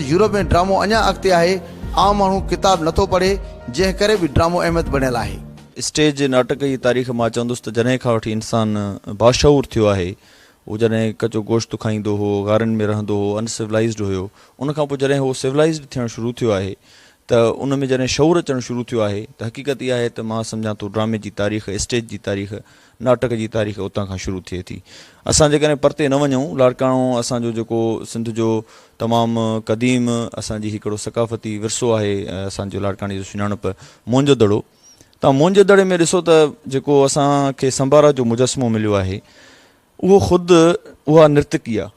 Europe ۾ ڊرامو اڃا اڳتي آهي، عام ماڻهو ڪتاب نه ٿو پڙهي، جنهن ڪري به ڊرامو اهميت بڻيل آهي. اسٽيج جي ناٽڪ جي تاريخ مان چوندس ته جڏهن کان وٺي انسان باشعور ٿيو آهي، هو جڏهن ڪچو گوشت کائيندو هو، غارن ۾ رهندو هو، ان سولائيزڊ هيو، ان کان پوء جڏهن هو سولائيزڊ ٿيڻ شروع ٿيو آهي ته ان ۾ جڏهن شعور اچڻ شروع ٿيو آهي ته حقيقت اها آهي ته مان سمجهان ٿو ڊرامي جي تاريخ، اسٽيج جي تاريخ ناٽڪ جي تاريخ اتان کان شروع ٿئي ٿي. اسان جيڪڏهن پرتي نه وڃون، لاڙڪاڻو اسان جو جيڪو سنڌ جو تمام قديم اسان جي هڪڙو ثقافتي ورثو آهي ۽ اسان جو لاڙڪاڻي جو سڃاڻپ موئنجو دڙو تان موئنجو دڙي ۾ ڏسو ته جيڪو اسان کي سنبارا جو مجسمو مليو آهي اهو خود اها نرتڪي آهي.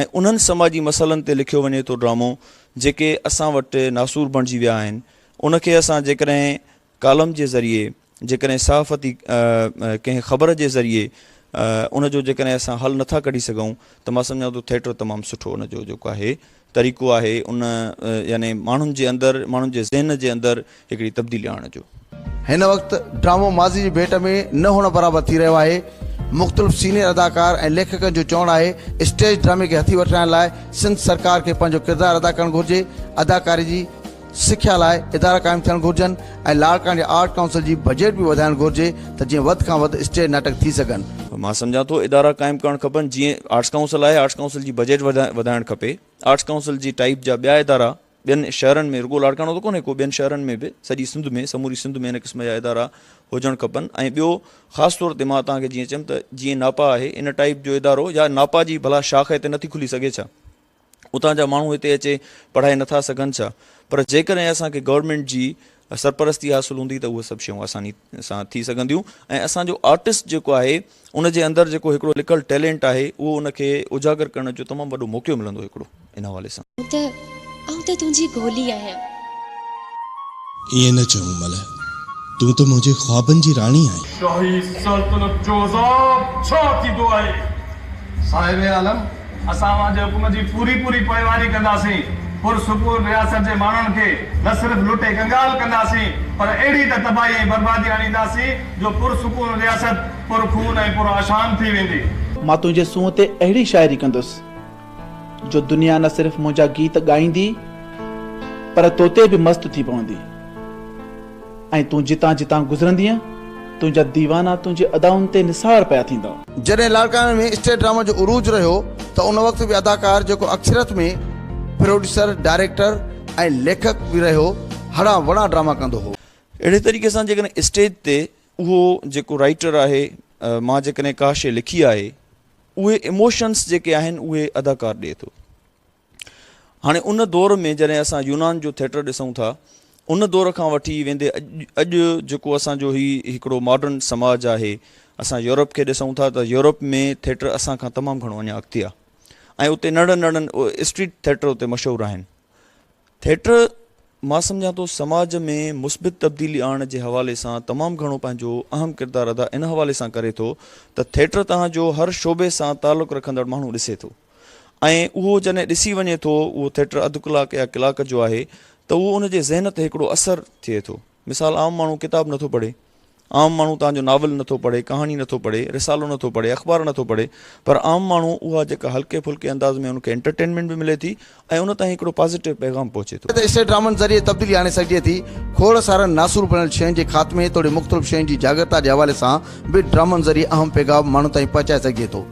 ۽ انهن سماجي مسئلن تي لکيو وڃي ٿو ڊرامو جيڪي اسان وٽ ناسور بڻجي ويا آهن ان کي اسان جيڪڏهن ڪالم جي ذريعي جيڪڏهن صحافتي ڪنهن خبر جي ذريعي ان جو جيڪڏهن اسان حل نٿا ڪڍي سگهون ته مان سمجهان ٿو ٿيٽر تمام سٺو ان جو جيڪو آهي طريقو آهي ان يعني ماڻهن جي اندر ماڻهن جي ذهن جي اندر هڪڙي تبديلي آڻڻ جو. هن وقت ڊرامو ماضي جي ڀيٽ ۾ نه هئڻ برابر ٿي رهيو آهي، مختلف سينيئر اداڪار ۽ ليکڪن جو چوڻ آهي اسٽيج ڊرامي کي هٿي وٺرائڻ لاء سنڌ سرڪار کي پنهنجو ڪردار ادا ڪرڻ گهرجي، اداڪاري جي سکيا لاء ادارا قائم ٿيڻ گهرجن ۽ لاڙڪاڻي جي آرٽ ڪائونسل جي بجيٽ به وڌائڻ گهرجي ته جيئن وڌ کان وڌ اسٽيج ناٽڪ ٿي سگهن. مان سمجهان ٿو ادارا قائم ڪرڻ کپن جيئن آرٽس ڪائونسل آهي آرٽس ڪائونسل جي بجيٽ وڌائڻ کپي، آرٽس ڪائونسل جي ٽائيپ جا ٻيا ادارا ٻين شهرن ۾ رڳو لاڙڪاڻو ته ڪونهي ڪو ٻين شهرن ۾ به سڄي سنڌ ۾ سموري سنڌ ۾ ان قسم جا ادارا هجڻ کپن ۽ ٻيو خاص طور تي مان توهان کي جيئن چيم ته جيئن ناپا آهي ان ٽائيپ جو ادارو يا ناپا جي ڀلا شاخ هتي نٿي کلي سگهي ڇا اتان جا ماڻهو هتي اچي پڙهائي نٿا سگهن ڇا پر جيڪڏهن اسان کي گورنمينٽ جي سرپرستي حاصل هوندي ته اهي سڀ شيون آساني سان ٿي سگهنديون ۽ اسان جو آرٽسٽ جيڪو آهي ان جي اندر جيڪو هڪڙو لڪل ٽيلينٽ آهي اهو ان کي اجاگر ڪرڻ جو تمام وڏو موقعو ملندو هڪڙو ان حوالي سان. آئون ته آئون ته تنهنجي گولي آهيان. ائين نه چئون ملهه تون ته منهنجي خوابن جي راڻي آهين. شاهي سلطنت جو عذاب ڇا ٿيندو آهي؟ صاحب عالم! اسان اوهان جي حڪم جي پوري پوري پوئواري ڪنداسين. پر سپور رياست جي ماڻهن کي نه صرف لٽي ڪنگال ڪنداسين پر اهڙي ته تباهي ۽ بربادي آڻينداسين جو پر سڪون رياست پر خون ۽ پر آشام ٿي ويندي. مان تنهنجي سونهن تي اهڙي شاعري ڪندس جو دنيا نه صرف منهنجا گيت ڳائيندي پر توتي به مست ٿي پوندي. ۽ تون جتان جتان گذرندينء، تنهنجا ديوانا تنهنجي ادائن تي نثار پيا ٿيندا. جڏهن لاڙڪاڻي ۾ اسٽيج ڊرامن جو عروج رهيو ته ان وقت به اداڪار جيڪو اڪثريت ۾ پروڊيوسر، ڊائريڪٽر ۽ ليکڪ به رهيو، هڙان وڙان ڊراما ڪندو هو. اهڙي طريقي سان جيڪڏهن اسٽيج تي اهو جيڪو رائيٽر آهي، مان جيڪڏهن ڪا شيء لکي آهي، اهي ايموشنس جيڪي آهن اهي اداڪار ڏئي ٿو. هاڻي ان دور ۾ جڏهن اسان يونان جو ٿيٽر ڏسون ٿا ان دور کان وٺي ويندي اڄ جيڪو اسان جو هي هڪڙو ماڊرن سماج آهي اسان يورپ کي ڏسون ٿا ته يورپ ۾ ٿيٽر اسان کان تمام گهڻو اڃا اڳتي آهي ۽ اتي ننڍن ننڍن اسٽريٽ ٿيٽر اتي مشهور آهن ٿيٽر مان سمجهان ٿو سماج ۾ مثبت تبديلي آڻڻ جي حوالي سان تمام گهڻو پنهنجو اهم ڪردار ادا ان حوالي سان ڪري ٿو ته ٿيٽر تهان جو هر شعبي سان تعلق رکندڙ ماڻهو ڏسي ٿو ۽ اهو جڏهن ڏسي وڃي ٿو اهو ٿيٽر اڌ ڪلاڪ يا ڪلاڪ جو آهي ته اهو ان جي ذهن تي هڪڙو اثر ٿئي ٿو مثال عام ماڻهو ڪتاب نٿو پڙهي عام ماڻهو تان جو ناول نٿو پڙهي ڪهاڻي نٿو پڙهي رسالو نٿو پڙهي اخبار نٿو پڙهي پر عام ماڻهو اها جيڪا هلڪي ڦلڪي انداز ۾ ان کي انٽرٽينمينٽ به ملي ٿي ۽ ان تائين هڪڙو پازيٽو پيغام پهچي ٿو. اسٽيٽ ڊرامن ذريعي تبديلي آڻي سگهجي ٿي. کوڙ سارن ناسور بڻيل شين جي خاتمي توڙي مختلف شين جي جاڳرتا جي حوالي سان به ڊرامن ذريعي اهم پيغام ماڻهن تائين پهچائي سگهجي ٿو.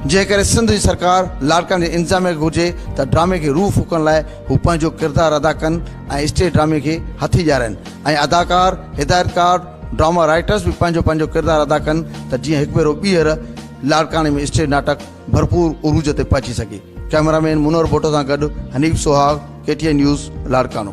جنهن ڪري سنڌ جي سرڪار، لاڙڪاڻي جي انتظاميه کي گهرجي ته ڊرامي کي روح ڦوڪڻ لاء هو پنهنجو ڪردار ادا ڪن ۽ اسٽيج ڊرامي کي هٿي ڏيارين ۽ اداڪار، هدايتڪار، ڊراما رائيٽرز به پنهنجو پنهنجو ڪردار ادا ڪن ته جيئن هڪ ڀيرو ٻيهر لاڙڪاڻي ۾ اسٽيج ناٽڪ ڀرپور عروج تي پهچي سگهي. ڪئميرا مين منور ڀٽو سان گڏ Hanif Suhag, K T N news, Larkana.